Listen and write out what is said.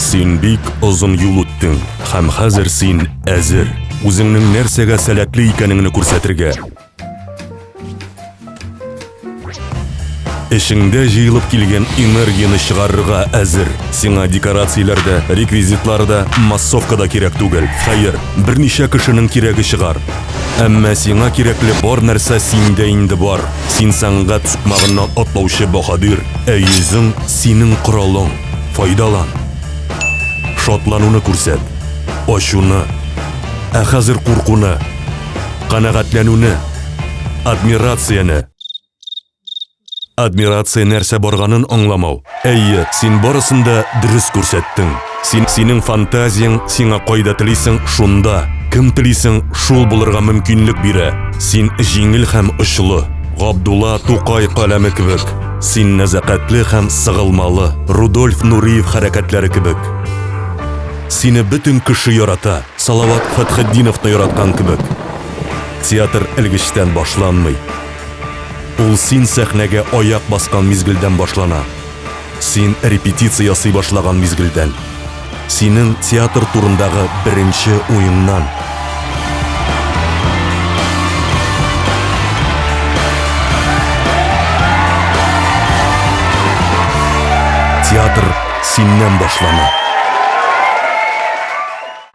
Син бик озын юл үттең, һәм хәзер син әзер. Үзеңнең нәрсәгә сәләтле икәнеңне күрсәтергә. Эшеңдә җыелып килгән энергияне чыгарырга әзер. Сиңа декорацияләр дә, реквизитлар да, массовка да кирәк түгел. Хәер, берничә кешенең кирәге чыгар. Әмма сиңа кирәкле бар нәрсә синдә инде бар. Син сәнгать сукмагыннан атлаучы баһадир, ә йөзең, синең коралың. Файдалан. Шатлануны күрсәт. Ачуны. Ә хәзер куркуны. Канәгатьләнүне. Адмирацияне. Адмирация нәрсә барганын аңламау. Әйе, син барысын да дөрес күрсәттең. Син, синең фантазияң сиңа кайда телисең, шунда, кем телисең, шул булырга мөмкинлек бирә. Син җиңел һәм очлы. Габдулла Тукай каләме кебек. Син нәзакәтле һәм сыгылмалы, Рудольф Нуриев хәрәкәтләре кебек. Сине бөтен кеше ярата, Салават Фәтхетдиновны яраткан кебек. Театр элгечтән башланмый. Ул син сәхнәгә аяк баскан мизгелдән башлана. Син репетиция ясый башлаган мизгелдән. Синең театр турындагы беренче уеңнан. Театр синнән башлана.